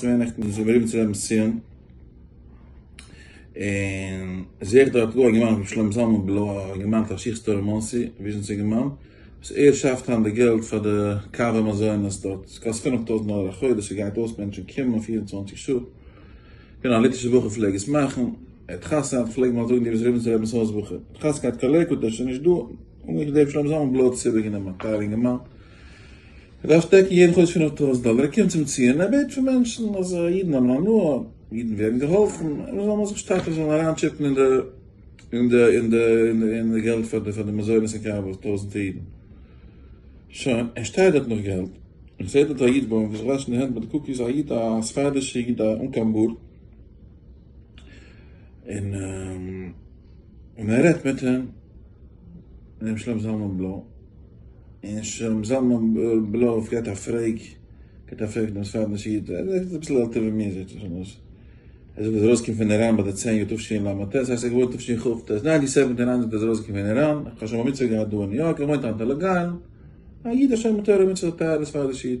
צוויי נעכטן דאס איבערלעבן צו רעבן סיון, און זעה איך דארט גאר א געמיינדע פון שלמה זלמן בלוי, א געמיינדע פון שיך סטאר אין מאנסי, וויזשניץ א געמיינד, וואס ער שאפט היינט די געלט פאר די קאווע מזונות דארט, עס קאסט פֿינף טויזנט דאלער א חודש, עס גייט אויס מענטשן קומען פֿיר און צוואַנציק שעה, כ'קען א ליטווישע בחור פלעג עס מאכן, ער האט חתונה האט פלעגן מיר זאגן די ביסט רעבן צו רעבנס הויז בחור, די חזקה האט קאלעקוט ער איז שוין נישט דא, האט מיר געזעהן שלמה זלמן בלוי האט עס איבערגענומען, א טייער אינגערמאן. ער דארף דעקן יעדן חודש פינף טויזנט דאלער, ער קומט צום ציון, ער בעט פון מענטשן אז אידן האבן הנאה, אידן ווערן געהאלפן, און זאל מען זיך שטארקן, זאל מען אריין טשיפן אין די אין די אין די אין די געלט פאר די פאר די מזונות און קאווע פאר טויזנטער אידן. שוין, ער שטייט דארט נאך געלט, און ער זעט דארט א איד בוים וואס זיך וואשן די הענט מיט די קוקיס, א איד א ספרדישע איד אן קיין בארד, און און ער רעדט מיט אים. רבי שלום זלמן בלוי, און שלום זלמן בלוי האט געהאט א פרעג, געהאט א פרעג דעם ספרד'ן שי' ט, ער איז אביסל עלטער ווי מיר זעהט אויס אזוי, ער זאגט אז ער ארויסגעקומען פון איראן ביי די צען יאר תשי ל ט, דאס הייסט ער איז געבוירן תשי ח ט, ניין די סעווענטי ניין זאגט ער איז ארויסגעקומען פון איראן, איך האב שוין בר מצוה געהאט דא אין ניו יארק, ער וואוינט היינט אין לאג איילענד, א איד א שומר תורה ומצוות א טייערע ספרדי שי' ט.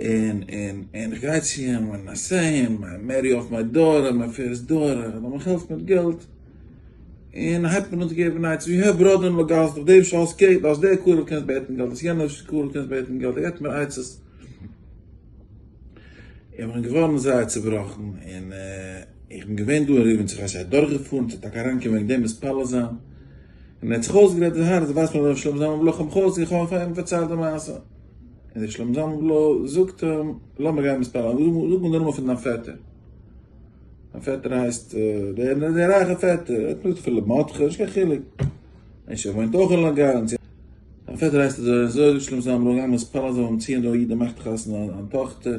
און און און איך גיי צו אים און איי סעי אים מיי מערי אף מיי דאטער, מיי פירסט דאטער, ער זאל מיך העלפן מיט געלט, און הייבט מען אן צו געבן עצות ווי הער בראדער אין לאגאס דורך דעם שאלס קעיט אז דער קרוב קענסט בעטן געלט אז יענער קרוב קענסט בעטן געלט, ער געבט מיר עצות, איך בין געווארן זייער צובראכן און איך בין געווען דא אין ריבניץ איך ווייס איך אדורכגעפארן צו טאקע אריינקומען וועגן דעם מתפלל זיין. און ער האט זיך אויסגערעדט די הארץ, ווייסט מען ר' שלמה זלמן בלוי כ'האב מיך אויסגעגעבן, כ'האב אים פארציילט די מעשה, און ר' שלמה זלמן בלוי זאגט אים, לאמיר גיין מספר, זאג מיר דערנאך פון דיין פעטער, דיין פעטער הייסט דער רייכער פעטער, ער האט נישט געזאגט אפילו מטכ ש, נישט קיין חילוק, און ער וואוינט אויך אין לאנג איילענד, דיין פעטער הייסט אזוי און אזוי, ר' שלמה זלמן בלוי גיי מספר זיי וועלן ציען דא א איד ער מאכט חתונה אן טאכטער.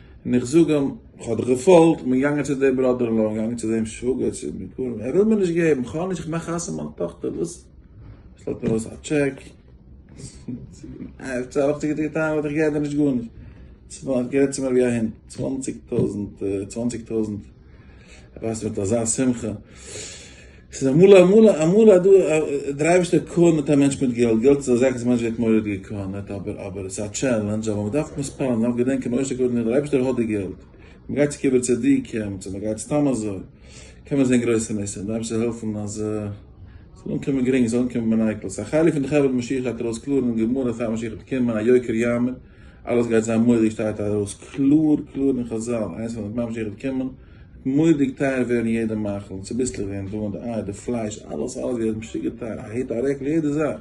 און איך זאג אים, איך האב דיך געפאלגט, כ'בין געגאנגען צו די בראדער אין לאו, כ'בין געגאנגען צו דעם שוואגער, צו די בחורים, ער וויל מיר נישט געבן, כ'האב נישט, כ'מאך חתונה מיין טאכטער, וואס? שלעפט מיר אויס א טשעק, עפעס האב איך געטון, וואלט איך געהערט נישט גארנישט, ער האט גערעדט צו מיר ווי א הונט, צוואנציג טויזנט, צוואנציג טויזנט, ער ווייזט מיר מיט אזא שמחה. ס'איז אמאל אמאל אמאל אז דו דער אייבערשטער קארנערט א מענטש מיט געלט, געלט איז א זאך וואס מענטש ווערט מורא'דיג געקארנערט אבער אבער ס'איז א טשעלענדזש אבער מ'דארף מתפלל מ'דארף געדענקען בראש הקדוש דער אייבערשטער האט די געלט, מ'גייט צו קברי צדיקים צו מ'גייט סתם אזוי קען מען זען גרויסע ניסים, מ'דארף זיך העלפן אז ס'זאל אנקומען גרינג ס'זאל אנקומען בנייקלס, א חלק פון די חבד משיח גייט ארויס קלאר אין גמרא אז פאר משיח וועט קומען א יוקר יאמער. אלעס גייט זיין מורא'דיג שטייט ארויס קלאר קלאר אין חזל איינס ווען די משיח וועט קומען וועט מורא'דיג טייער ווערן יעדע מאכל און צוביסלעך ווערן דא און די אייער די פלייש אלעס אלעס ווערט משוגע טייער א היט א רעקל יעדע זאך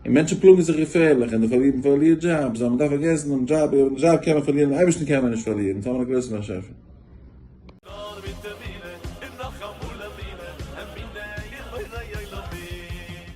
און מענטשן פלאגן זיך געפערליך און די פארלירן פארלירט דזשאבס אז מען דארף פארגעסן דעם דזשאב אויב די דזשאב קען מען פארלירן דעם אייבערשטן קען מען נישט פארלירן טאמער א גרויסן באשעפער. נאר מיט אמונה און נאך אמאל אמונה, אמונה אין בורא עולמים.